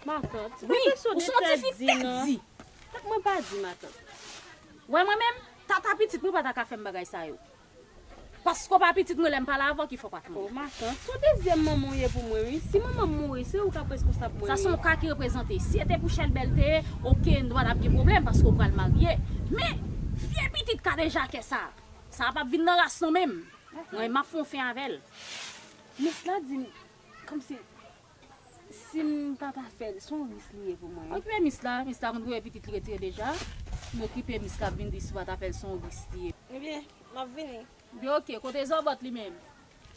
Matant, ou pa janm sonje tèt di non. Tank mwen pa di matant. Wè mwen menm, tata pitit mwen pa ta ka fè m bagay sa yo. Paske w pa pitit mwen lè m pale avè w ki fè w pa tande. O matant, se w dezyèm manman w ye pou mwen wi. Si manman m mouri, se ou k ap reskonsab mwen wi. Sa se yon ka ki reprezante. Si e te pou Chèlbè l te ye, ok, nou pa t ap gen pwoblèm paske ou pral marye. Men, vye pitit kadejakè sa a, sa a p ap vin nan ras nou menm. Mwen, m ap fè yon fen avè l. Nès la di m, kòmsi. Sim pa ta fèl son ris li ye pou mwen wi. Okipe mis la mis la konn voye pitit li retire deja m okipe mis la ap vin di si w pa ta fèl son ris li ye. Ebyen map vini. Ebyen ok kote zòbòt li menm.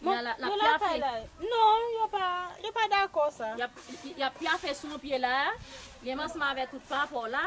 Bon yo lakay la non yo pa yo pa dakò sa. Yap pyafe sou yon pye la. Li menm ansanm avèk tout papaw la.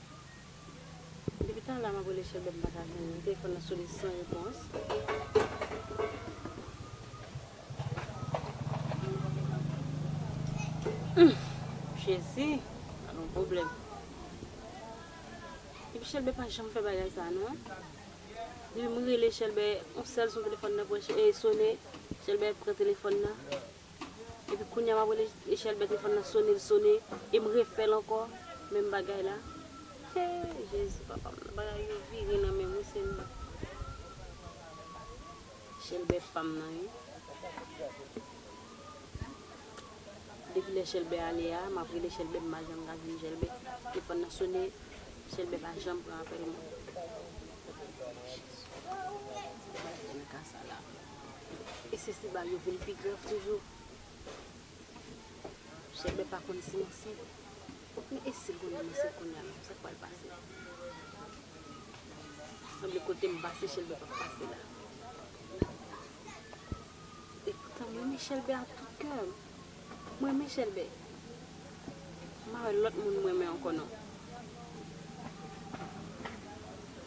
Depi talè map rele chèlbè m paka jwenn li, telefòn nan sone san repons. Humm jezi sa gon pwoblèm. Depi chèlbè pa janm fè bagay sa non. Depi m rele chèlbè yon sèl son telefòn nan sone, chèlbè pran telefòn nan. Epi kounya map rele echèl bèt telefòn nan sone l sone em refèl ankò menm bagay la hee jezi papa m nan bagay yo vire nan menm wi senyè. Echèl bèt pam nan wi. Depi lè chèlbè ale a map rele chèlbè m pa janm ka jwenn chèlbè telefòn nan sone chèlbè pa janm pran apèl mwen. E se si bal yo vin pi grav toujou? Chèlbè pa konn si m ansent. Men e si l konnen m ansent kounya menm, sa k pral pase? Sanble kote m pase Chèlbè pa p pase la. Epoutan m renmen Chèlbè ak tout kè m. M renmen chèlbè m pa wè lòt moun m renmen ankò non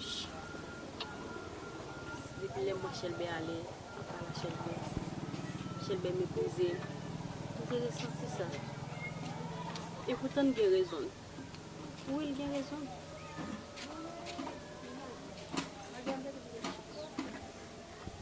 Chut depi lè m wè chèlbè ale ap pale a chèlbè chèlbè meprize m m te resanti sa epoutan n gen rezon n wi l gen rezon l.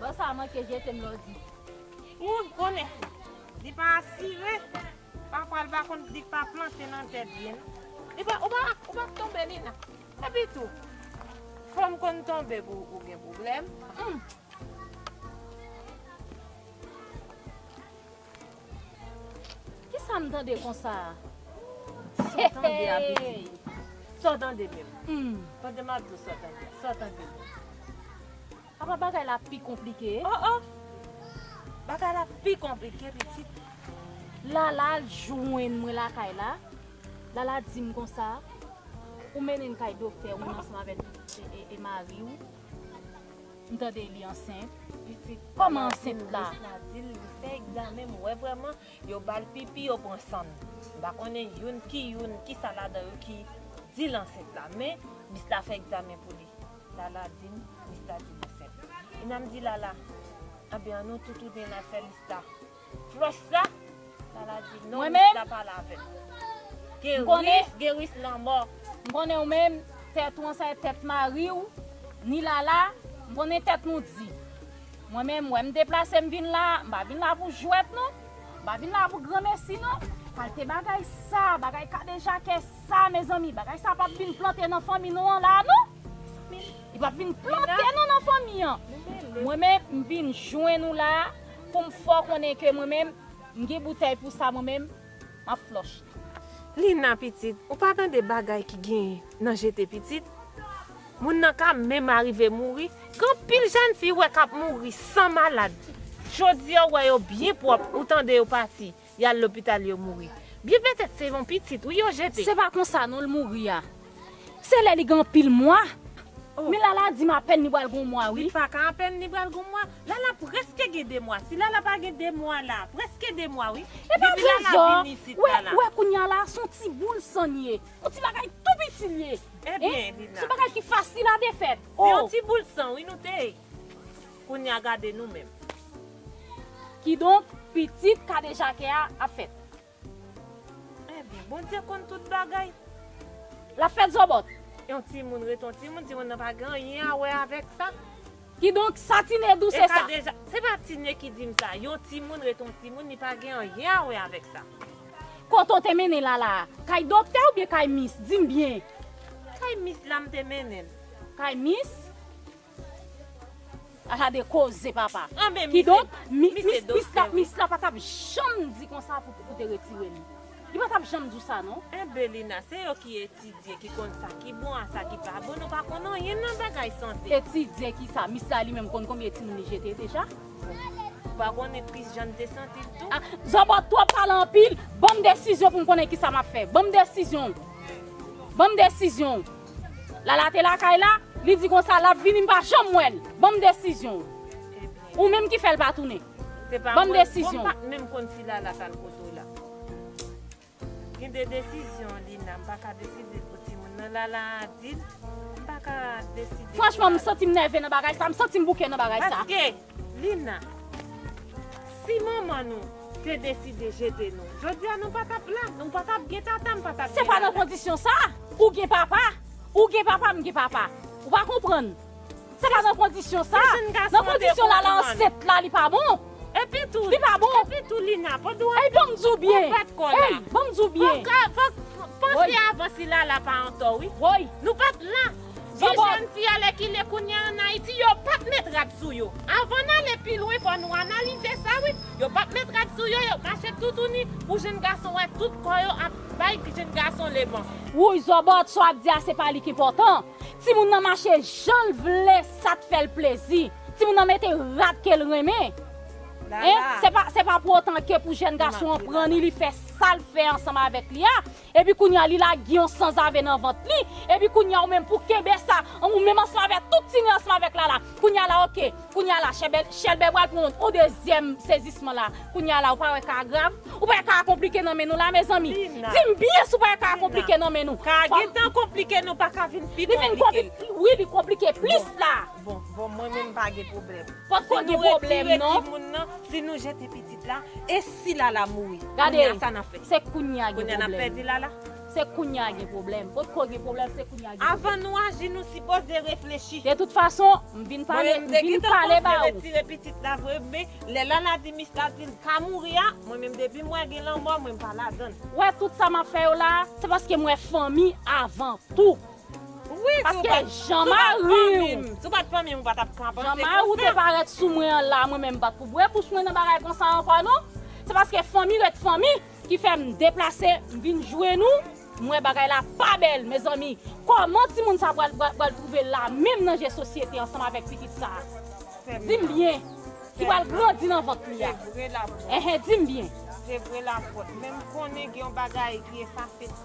Bon sa manke jete m lò di. Ou konnen li pa asire pafwa li pa konn li pa plante nan tèt byen non. Li pa ou pa ou pa k tonbe li nan. Epi tou fanm konn tonbe pou ou gen pwoblèm humm. Kisa m tande konsa a? Sa w tande a pitit ou? Sa w tande menm? Tande m ap di w sa w tande a. Sa w tande menm? Apa bagay la pi konplike? O o! Bagay la pi konplike pitit. Lala al jwenn mwen lakay la. Lala di m konsa, Ou mennen m kay doktè ou menm ansanm avèk mari ou. M tande li ansent. Koman ansent la? Journaliste la dil li fè egzamen m wè vrèman yo bal pipi yo pran san m pa konnen youn ki youn kisa ladan yo ki dil ansent la men mis la fè egzamen pou li lala di m mis la dil ansent Ina m di lala anben an nou tou tounen al fè mis la Flòch sa, Lala di non mis la pale avèm. Gen ris, gen ris lanmò. M konnen ou menm, tèt ou an sa e tèt mari ou, ni Lala, m konnen tèt nou di. Mwen menm, wè m deplase m vin la, m pa vin la pou jwèt non, m pa vin la pou granmesi non. Kalte bagay sa, bagay kadejakè sa mezanmi, bagay sa pap vin plante nan fanmi nou an la non. Li pap vin plante non nan fanmi an. Mwen menm, m vin jwenn ou la, Pou m fè w konnen ke mwen menm, m gen boutèy pou sa mwen menm, m ap flòch li. Lina, Pitit, ou pa tande bagay ki gen nan jete pitit? Moun nan ka menm arive mouri. Gen anpil jèn fi ou wè k ap mouri san malad. Jodi a ou wè yo byen pwòp, ou tande yo pati. Yal lopital yo mouri. Byen petet se yon pitit wi yo jete. Se pa konsa non l mouri a. Se lè li gen anpil mwa. Men Lala di m apèn li pral gen yon mwa wi. Li paka apèn li pral gen yon mwa. Lala preske gen 2 mwa. Si Lala pa gen 2 mwa la. Preske 2 mwa wi. Depi Lala vini isit la la. Ou wè kounye a la se yon ti boul san li ye. Yon ti bagay tou piti li ye. Ebyen Lina. Se yon bagay ki fasil a defèt. Se yon ti boul san wi nou te. Kounya gade nou menm. Kidonk, pitit kadejakè a ap fèt. Enben, Bondye konn tout bagay. L ap fèt zòbòt. Yon timoun rete yon timoun, timoun nan pa gen anyen a wè avèk sa. Kidonk, sa Tine di w se sa. Se pa Tine ki di m sa. Yon timoun rete yon timoun, li pa gen anyen a wè avèk sa. Kote w te mennen Lala a? Kay doktè oubyen kay mis? Di m byen. Kay mis la m te mennen l. Kay mis? Ala de koze papa. Kidonk, mis la mis la pa tap janm di konsa pou pou te retire li. Li pa tap janm di w sa non. Eh Belina, se yo ki etidye ki konn sa ki bon a sa ki pa bon, nou pa konn anyen nan bagay sante. Etidye kisa? Mis la li menm konn konbyen timoun li jete deja? Ou pa konnen tris jan m te santi l tou? Zòbòt twòp pale anpil, banm desizyon pou m konnen kisa map fè. Banm desizyon w. Banm desizyon w. Lala te lakay la, li di konsa lap vini m pa janm wè l. Banm desizyon w. Ou menm ki fè l pa tounen. Banm desizyon w. Bon m pat menm konn si Lala tal kote w la. Gen de desizyon Lina m paka deside l pou timoun nan. Lala adil, m paka deside pou Lala. Franchman m santi m nève nan bagay sa, m santi m bouke nan bagay sa. Paske. Lina, Si manman nou te deside jete nou, jodi a nou pa tap la, nou pa tap gen tata, m pa tap gen Se pa nan nana. kondisyon sa, ou gen papa, ou gen papa, m gen papa. Ou pa konprann. Se pa nan kondisyon sa. Si jenn gason an te Nan kondisyon Lala konprann. ansent la li pa bon. Epi tou, Li pa bon. epi tou Lina, pandan w ap Ey ban m di w byen. bat kò la. Ey ban m di w byen. Fòk, fòk, panse avan si Lala pa antò wi. Woy. Nou pa t la. Di jèn fi a lèkile kounya an Ayiti yo pap met rad sou yo. Avan n ale pi lwen fò nou analize sa wi, yo pap met rad sou yo, yo mache toutouni pou jenn gason wè tout kò yo ap bay jenn gason leman. Wouyy zòbòt sa wap di a se pa li k enpòtan, timoun nan mache janl vle sa t fèl plezi, timoun nan mete rad kel renmen hein, se pa pou otan ke pou jèn gason an pran ni li fè sal fè ansanm avèk li a, Epi kounya li lage yon sanzave nan vant li, epi kounya ou menm pou kenbe sa, ou menm ansanm avè tout tine ansanm avèk lala, kounya la ok, kounya la chèbè, chèlbè pral pran yon dezyèm sezisman la, kounya la ou pa wè ka a grav, ou pa wè ka a konplike nan men nou la mezanmi, dim byen si ou pa wè ka a konplike nan men nou, fòm, li vin konplike plis la. Bon bon mwen menm pa gen pwoblèm. Potko gen pwoblèm non. Si nou retire timoun nan, si nou jete pitit la, e si lala mouri? Gade, kounya sa nap fè? Se kounya gen pwoblèm. Kounya nap pèdi lala? Se kounya gen pwoblèm. Potko gen pwoblèm se kounya gen pwoblèm. Avan nou aji nou sipoze reflechi. De tout fason, m vin pale, m vin pale ba ou. Mwen menm m te gentan panse retire pitit la vre men lè lala di mis la dil ka mouri a, mwen menm depim wè gen lanmò mwen m pa ladann. Wè tout sa map fè yo la, se paske m wè fanmi avan tou. Paske jan mari ou te parèt sou mwen an la, mwen menm m pa t pou bwè bouch mwen nan bagay konsa ankò non. Se paske fanmi ret fanmi ki fè m deplase m vin jwenn ou, m wè bagay la pa bèl. Mezanmi, kòman timoun sa pral twouve l la menm nan je sosyete ansanm avèk pitit sa? Di m byen, ki pral grandi nan vant li a? Di m byen. Se vre lapot, men m konnen gen yon bagay ki efase.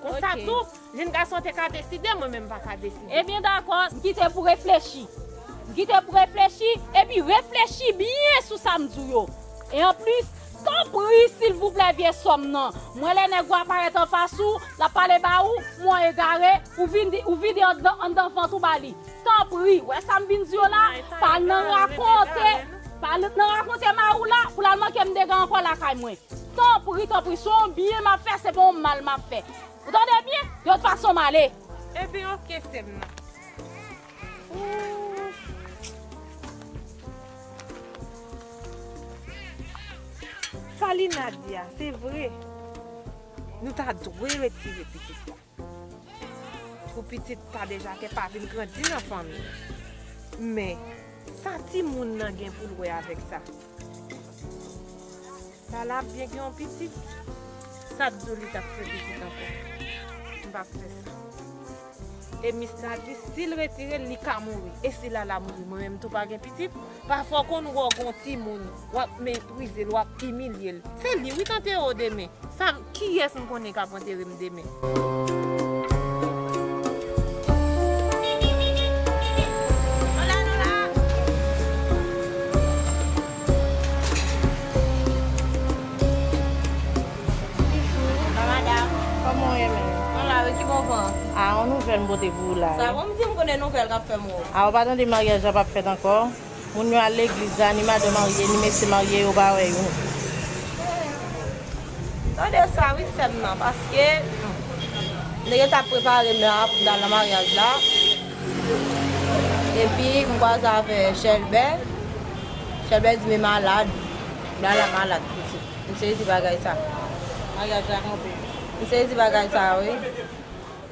Konsa tou, jenn gason te ka deside, mwen menm m pa ka deside. Ebyen dakò, m kite pou reflechi. M kite pou reflechi, epi reflechi byen sou sa m di w yo. E anplis, tanpri silvouplè vye sò m nan, mwen lè nèg ou a parèt anfas ou, l ap pale ba ou, m wè w egare, ou vin di, ou vide anndan vant ou ba li. Tanpri, wè sa m vin di w la, pa al nan rakonte, pa al nan rakonte mari w la, pou l al manke m dega ankò lakay mwen. Tanpri tanpri se yon byen map fè se pa yon mal map fè ou tande byen yon fason male. Ebyn ok sem nan ooh. Sa Lina di a se vre. Nou ta dwe retire pitit la. Pou pitit pa deja te pa vin grandi nan fanmi. Men, sa timoun nan gen pou l wè avèk sa? Lala ap byen gen yon pitit? Sa t di w li t ap fè pitit ankò? M p ap fè sa. E mis la di si l retire l li ka mouri. E si Lala mouri mwen menm tou pa gen pitit? Pafwa w konn wè w gon timoun wap meprizel wap imilyel se li wi k antere w demen sa m kiyès m konnen kap antere m demen. Ah ou pa tande maryaj la pap fèt ankò moun yo al legliz la ni madan marye ni mesye marye yo pa wè yo. Tande sa wi sèm nan paske nèg yo tap prepare mè a pou ta al nan maryaj la epi m kwaze avè chèlbè chèlbè di me malad lala malad pitit m sezi bagay sa maryaj la kanpe m sezi bagay sa wi.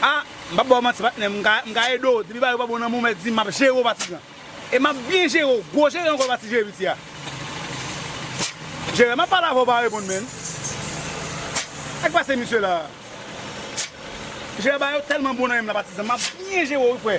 A, m pap ba w manti patnè, m ka ede w, depi bagay yo pa bon nan men w mèt di m, m ap jere w pa ti gran. E m ap byen jere w, gwo jere ankò l pa ti jere piti a. Jere, m ap pale avè w, w pa reponn menn. Sa k pase misye la a? Jere, bagay yo tèlman bon nan men m la patizan, m ap byen jere w wi frè.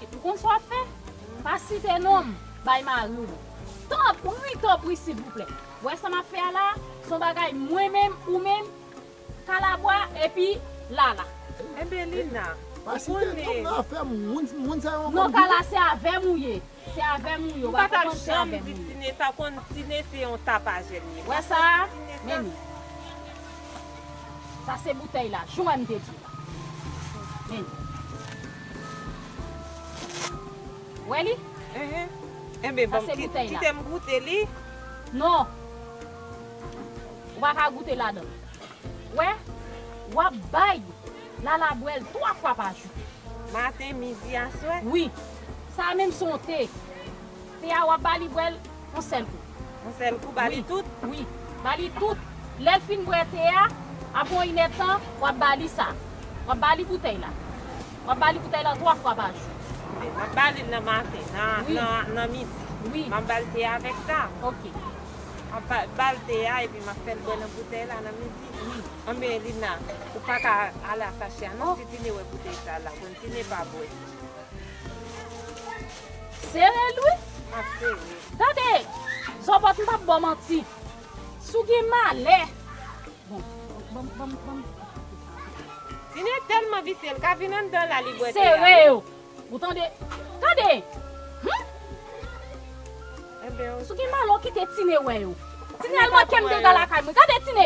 Epi ou konn sa w ap fè? Pa site non m bay mari w. Tanpri, tanpri silvouplè. W wè sa m ap fè a la a? Se yon bagay mwen menm, ou menm, Kalabwa epi Lala. Enben Lina, ou konnen. Non Kala, se avè m ou ye. Se avè m ou ye. Ou pa ta janm di Tine sa konn. Tine se yon tapajè l ye. Wè sa a? Men ni. Sa se boutèy la. Jan m te di w la. Men ni. Wè li? Enben banm Sa se boutèy la. Kitem goute li. Non! Ou pa ka goute ladan l. Wè? Wap bay Lala bwè l 3 fwa pa jou. Maten, midi, aswè? Wi. Sa a menm son te. Te a wap ba li bwè l. On sèl kou. On sèl kou, ba li tout? Wi, ba li tout. Lè l fin bwè te a, apre yon inèdtan, w ap ba li sa. W ap ba li boutèy la. W ap ba li boutèy la twa fwa pa jou. Ok, m ap ba li l nan maten, nan midi. Wi. M ap ba l te a avèk sa. Ok. M ap ba l te a epi m ap fè l bwè nan boutèy la nan midi. Wi. Anben, Lina, ou pa ka ale a sa chè a non. Si Tine wè boutèy sa a, l ap konn. Tine pa bwè. Serel wi map sere. Tande zòbòt m pap baw manti si w gen malè bon banm banm banm Tine tèlman visye li ka vin anndan la li bwè te a wi. Sere yo ou tande tande humm. Sou gen malo kite tine wè yo. Tine al mwen kem dega lakay mwen gade tine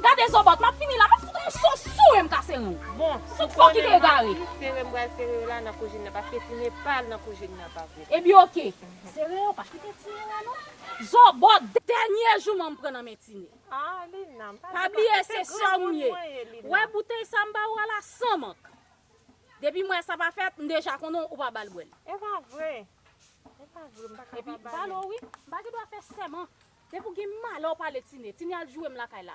gade zobot map fini la map fout yon so sou em kase renw tout fo kite egare. Ebyen ok sere yo pa kite tine wè non zobot. Dènye jouman m pran nan men tine. Pa bliye se sèw m ye. Wè boutèy sa m ba ou a la san mank. Depi m wè sa pa fèt, m deja konnen ou pa ba l bwè l. E pa vre! E pa vre, m pa ka pa ba li. Epi, m pa gen dwa fè sèman. Depi w gen malè w pale Tine. Tine al joure m lakay la.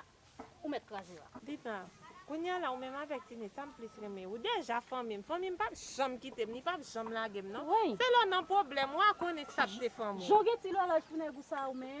Ou mèt kraze yo a. Dina, Kounye a la, ou menm avèk Tine, sa m plis renmen? Ou deja fanmi m. Fanmi m pa p janm kite m, li pa p janm lage m non. Se lè w nan pwoblèm, wa konnen sa k te fanmi w. Jan w gen ti lòlòj pou nèg ou sa a ou menm.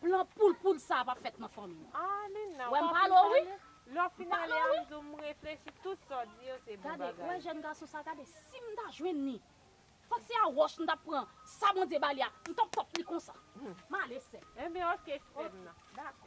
Plan poul poud sa pap fèt nan fanmi nou. Ah Lina ou pa fin pale? Lè w fin ale a m di w m reflechi tout sa w di yo se bon bagay. Gade, wè jèn gason sa gade si m ta jwenn li fòk se a wòch m tap pran sa Bondye ba li a m tap top li konsa. M ale sèm. Enben ok sèm nan. Ok dakò.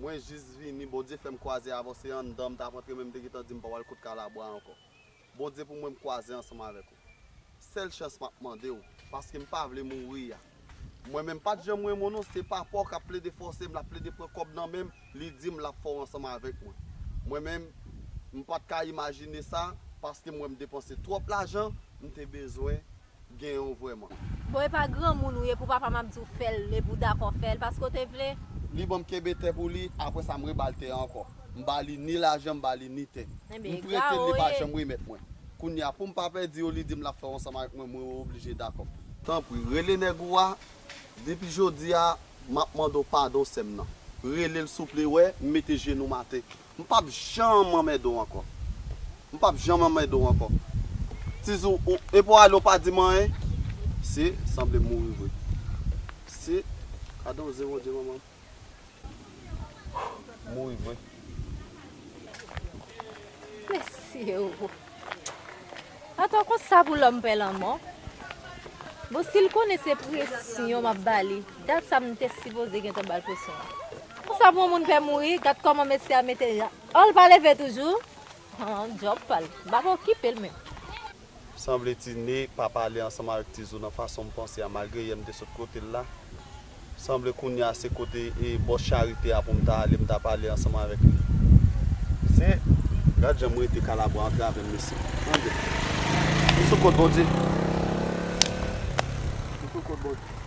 Mwen jis vini Bondye fèm kwaze avèw se anndanm tap antre menm te gentan dim pa wal kot kalabwa ankò Bondye pou mwen m kwaze ansanm avèk ou sèl chans map mandew paskem pa vle mouri a mwen menm pat janm renmen w non se papaw kap plede fòsem lap plede pran kòb nan menm li dim lap fèw ansanm avèk mwen mwen menm m pat ka imajine sa paskem wèm depanse twòp lajan m te bezwen gen yon vreman. Bon epa granmoun ou ye pou papam ap diw fèl epou dakò fèl paske ou te vle. Li banm kenbe tè pou li aprè sa m re bal tè ankò m ba li ni lajan m ba li ni tè m pretel li pa janm remèt mwen kounya poum pa pèdi yo li dim lap fè ansanm avèk mwen mwen oblije dakò. Tanpri rele nèg ou a depi jodi a map mande w padon sèm nan relel souple wè m mete jenou m atè M pap janm anmède w ankò. M pap janm anmède w ankò. Tizou, ou epi w ale ou pa di m anyen? Sye, sanble m mouri vre. Sye, gade yon ze Bondye manman m. Mouri vre. Mèsi. Papa konsa pou lòm pè lanmò? Bon sil konnen se presyon map bali dat sa m te sipoze gentan bal presyon an konsa pou yon moun pè mouri gad kòman mesye a mete jan an l pa leve toujou han djòb pal m pap okipel menm. Sanble tine pa pale ansanm avèk tizou nan fason m panse a malgre yè m te sot kotel la. Sanble kounya se kote bòs charite a pou m ta ale m ta pale ansanm avèk li. Se. Gad jan m rete kalabwa antre avè m mesye. Tande. M sou kont Bondye. M sou kont Bondye.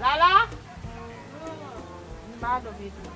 Lala! Di Mado vini.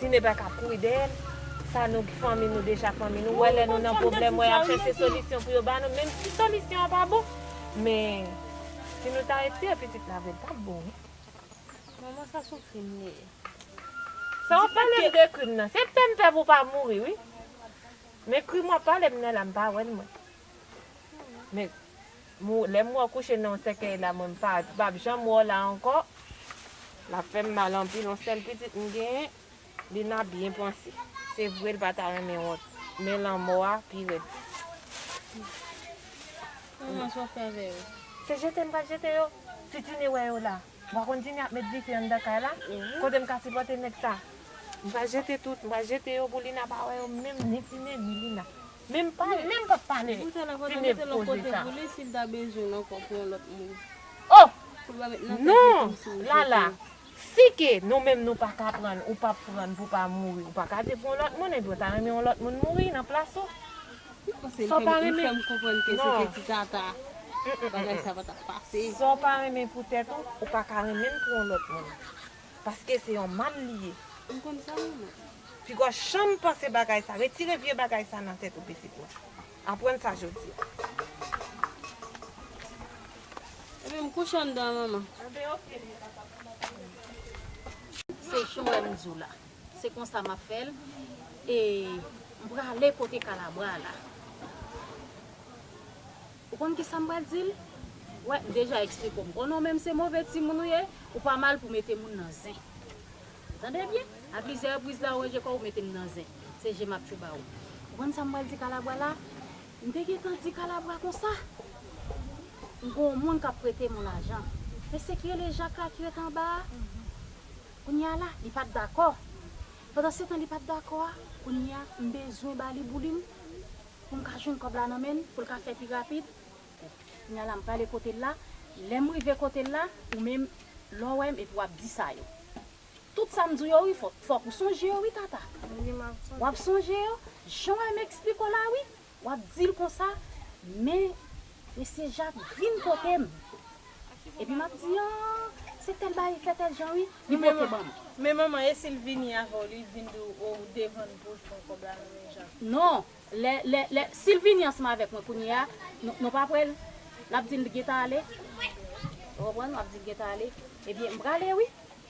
Tine pa ka kouri dèyèl. Sa nou fanmi nou deja fanmi nou. Wè lè nou nan pwoblèm wè yap chèche solisyon pou yo ba nou menm si solisyon an pa bon. Men si nou ta retire pitit la avèl tap bon wi. Manman sa son krim li ye. Sa wap palem de krim nan se pèm pè pou pa mouri wi. Men krim wap palem nan la m pa wèl mwen. Men lè m wè w kouche nan yon sèkèy la mwen m pa pap janm wè w la ankò lap fè m mal anpil yon sèl pitit m genyen li nan byen panse se vre l pa ta renmen wont men lanmò a pi rèd se jete m pral jete yo si tine wè yo la wa konn tine ap met dife anndan kay la kote m ka sipòte nèg sa m pral jete tout m pral jete yo pou lina pa wè yo menm ni tine ni lina. Men m pa menm pa pale ti neg koze sa. Oh non lala si ke nou menm nou pa ka pran ou pa pran pou pa mouri ou pa ka di pou yon lot moun epi ou ta renmen yon lot moun mouri nan plas ou. Sa w pa renmen sa w pa renmen pou tet ou ou pa ka renmen pou yon lot moun. Paske se yon mal li ye. M konn sa mwen mwen. Piga janm panse bagay sa. Retire vye bagay sa nan tèt ou pitit mwen. Aprann sa jodi a. Epi m kouche anndan an manman. Anben ok li pa tap fè anyen pou tèt li. Se jan w wè m di w la. Se konsa m ap fè l. E m prale kote kalabwa la. Ou konn kisa m pral di l? Wè, deja eksplike m. O non men se move timoun ou ye, ou pa mal pou mete moun nan zen. Ou tande byen? A plizyè repriz la ou ranje kò ou mete m nan zen. Se je m ap tjou ba ou. Ou konn sa m pral di Kalabwa la? M te gentan di Kalabwa konsa, M gon w moun k ap prete m yon lajan. Mesye ki rele Jak la ki ret anba a, kounye a la, li pa t dakò. Pandansetan li pa t dakò a, kounye a, m bezwen ba li boulin. pou m ka jwenn kòb la nan men l, pou l ka fè pi rapid, bon, kounye a la m prale kote l la, lè m rive kote l la, ou menm, lè w wè m epi w ap di sa yo. Tout sa m di w yo wi, fò, fòk ou sonje yo wi Tata. Wi, m ap sonje. W ap sonje yo, jan w wè m esplike w la wi, w ap di l konsa, men, mesye Jak vin kote m, Epi map di ahh se tèl bay efè tèl jan wi li pote banm. Men manman e sil vini avèw li vin di ou oh ou devann pouw jwenn kòb la nan men Jacques. Non lè lè lè sil vini ansanm avèk mwen kounyea nou pap wèl lap dim li gentan ale ou konprann wap dil gentan ale ebyen mprale wi.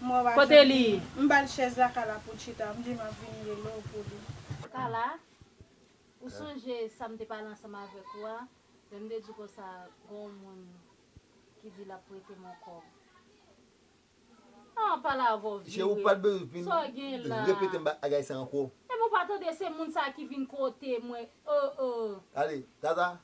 M wè w a janm li. M ba l chèz la Kala pou l chita, m di m ap vin rele w pou li. Kala, Ou sonje sa m te pale ansanm avèk ou a, lè m te di w konsa gen yon moun ki di l ap prete m yon kòb? An, pale avè w vire. Cheri, ou pa t bezwen Sa w gen la? repete m bagay sa ankò. Epi w pa tande se moun sa a ki vin kote mwen, oo. Ale, Tata,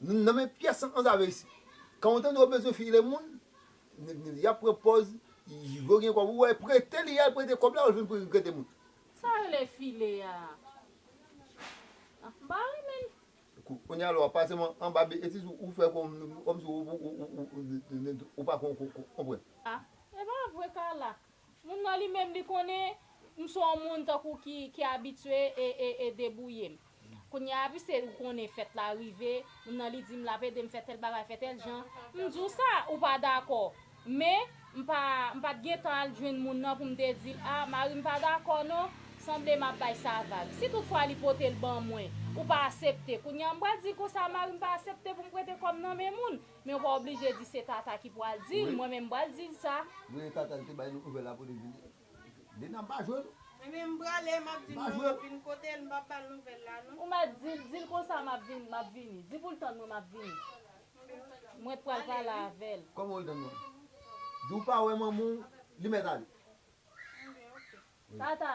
N nan men pyès an anzave isit. Kan ou tande yo bezwen file moun, n yap pran pòz yo gen kòb ou wè prete li yal prete kòb la ou vin prete moun. Sa rele file a ah m pa renmen l. Kounye a lwa pa sèlman anba betiz ou fè kòmsi ou pa konprann. Ah epa vre Carla Moun nan li menm li konnen m se yon moun tankou ki ki abitye e e e debouye m. Kounye a pise ou konnen fèt la rive, moun nan li di m l ap ede m fè tèl bagay, fè tèl jan. M di w sa, ou pa dakò. Men, m pa m pa t gen tan al jwenn moun nan pou m te di l a, mari m pa dakò non, sanble m ap bay sa vag. Si tout fwa li pote l ban mwen, ou pa asepte, kounye a m pral di konsa mari m pa asepte pou m prete kòb nan men moun. Men ou pa oblije di se Tata ki pwal dil, mwen menm pwal dil sa. Voye tata li te bay nou nouvel la pou li vini. Dena m pa jwe non. Mwen menm m prale map dil mwen map vin kotel m pap bal nouvel la non. Ou mèt dil, dil konsa map vin, map vini. Di poul tann mwen map vini. Mwen t pral pale avel. Koman ou l tann mwen? Di ou pa wè manman w li mèt ale. Tata!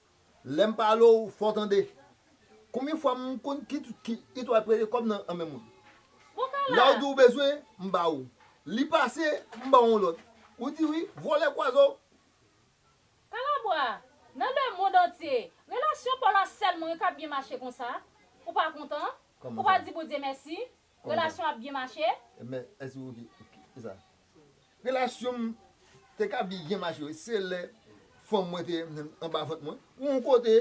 Lèm pale w fò tande. Konbyen fwa m konn ki it wap rele kòb nan men mwen. Lè w di w bezwen m ba ou. Li pase m ba w yon lòt. Ou di wi, vòlè kwazo. Kalabwa, nan le mond antye. Relasyon paw la sèl mwen kap byen mache konsa. Ou pa kontan? Ou pa di Bondye mèsi? Relasyon ap byen mache? Relasyon m te ka byen mache wi, se lè fanm mwen te anba vant mwen. Yon kote,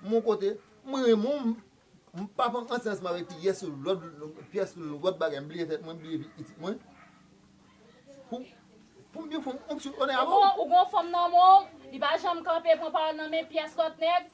yon kote, m renmen w, m pa pran ansen ansanm avèk pyès lòt, pyès lòt bagay, m bliye tèt mwen, m bliye vi pitit mwen, pou m vin fonksyon, onè avè w. Ou gen yon fanm nan men w, li pa janm kanpe pran pawòl nan men pyès lòt nèg,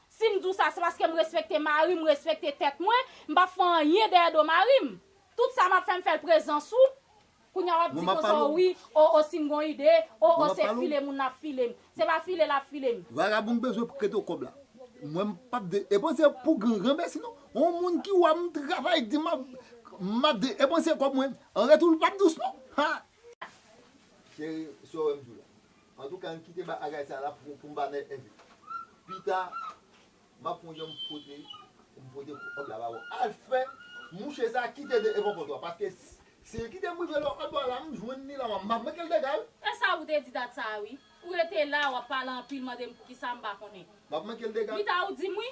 Si m di w sa, se paske m respekte mari m, m respekte tèt mwen, m pap fè anyen dèyè do mari m. Tout sa m ap fè, m fè l prezans ou. Kounya w ap di konsa o wi, o o si m gon ide, o o se file moun ap file m. Se pa file l ap file m. Vagabon m bezwen pou kèt o kòb la. Mwen m pap de epanse pou grangranmèsi non. On moun ki wè m travay di m m ap de epanse kòb mwen. An retou l pap dous non. Ha! Cheri, si w wè m di w la. Antouka ann kite bagay sa la pou pou m pa mèt envite. Pita m ap fon jan m pote pou m pote kòb la ba ou. Al fè mouche sa kite de evan pòt ou a paske si l kite m rive lè w al dwa la m jwenn li la m ap manke l dega wi. E sa ou te di dat sa a wi. Ou rete la a w ap pale anpil mande m poukisa m pa konnen. M ap manke l dega. Pita ou di m wi.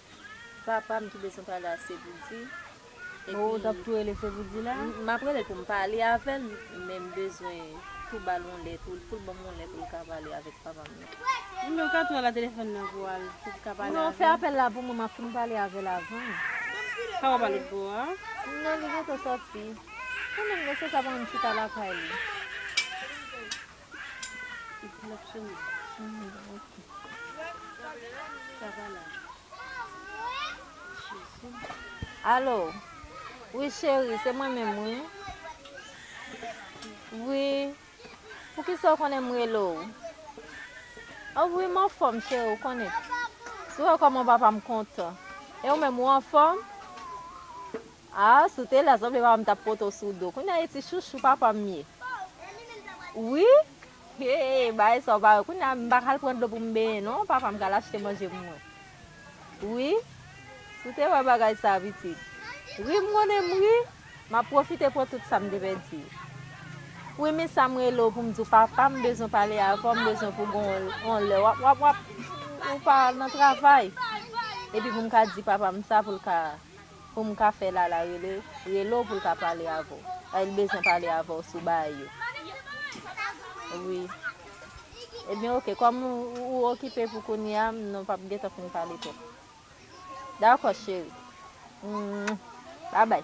Papam ki bezwen pale a Sevoudi epi Oh tap tou rele Sevoudi la? Map relel poum pale avèl men m bezwen tou bal yon lè tou, foul banm yon lè poul ka pale avèk papam nan. Ebyen ou ka tou al a telefòn nan pou al pou ka pale avèl. Non fè apèl la pou mwen map fin pale avèl avan. Sa wap al lotbo a? Non li gentan sòti. Kanmenm non se sa banm chita lakay li. Alo wi cheri se mwen menm wi wi poukisa ou konnen m rele w oh wi m anfòm cheri ou konnen si w wè kòman papa m kontan e ou menm ou anfòm Ah si w te la sanble papa m tap pote w sou do kounya e ti chouchou papa m ye wi hee bagay sa w pa wè kounya m pa ka al pran dlo pou m benyen non papa m ka al achte manje pou mwen wi si w te wè bagay sa pitit ri m konnen m ri map pwofite pran tout sa m te pèdi wi men sa m rele w pou m di w papa m bezwen pale avè w m bezwen pou gon on lè wap wap wap ou pa nan travay epi pou m ka di papa m sa pou l ka. pou m ka fè Lala rele rele w pou l ka pale avè w paske l bezwen pale avè w sou baay yo wi Ebyen ok kòm ou okipe pou kounye a nou pap gen tan pou n pale twòp Dakò cheri Mouin Babay.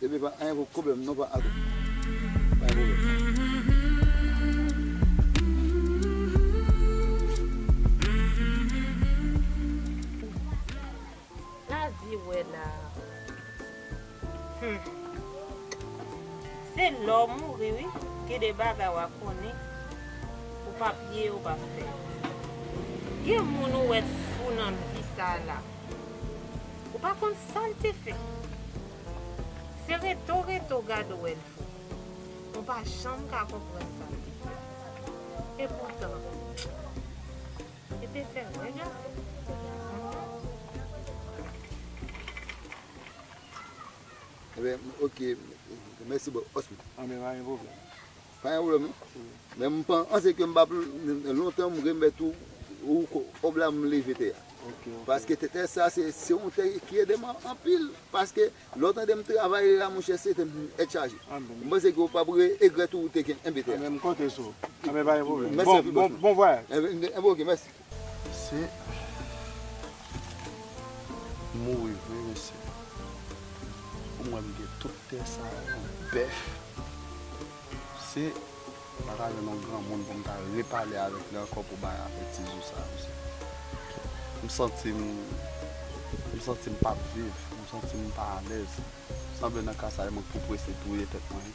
Bebe pa anyen pou pwoblem non pa atout bay pwoblem. La vie wè la humm. Se lè w mouri wi gen de bagay wa konnen ou pa pye yo pa fè gen moun ou wè t fou nan vi sa la ou pa konn sal te fè. Se reto reto gade w el fou. Mwen pa janm ka konprann sa l te fè. E poutan. Yo te fè wè gason an se te gason l lan. Ebyen ok mèsi boo. Anben pa gen pwoblèm. Pa gen problèm non. Men m panse ke m pa lontan m remèt ou kòb la m leve tè a. Paske tè sa se yon tè ki ede m anpil. Paske lè w tande m travay la monchè se tè m tèt chaje. M panse ke w pap regrèt ou te kenbe tè a. Anben m konte sou ou. Anben pa gen problèm. Bon vwayaj. Anben ok mèsi. Mesye mouri vre mesye. Pou mwen m gen tout tè sa yo, bèf. Mesye m pa ta jwenn yon granmoun pou m ta repale avèk li ankò pou bay afè ti zou sa mesye. M santi m, m santi m pap viv, m santi m pa alèz. Sanble nan ka sa e mwen k pou prese touye tèt mwen.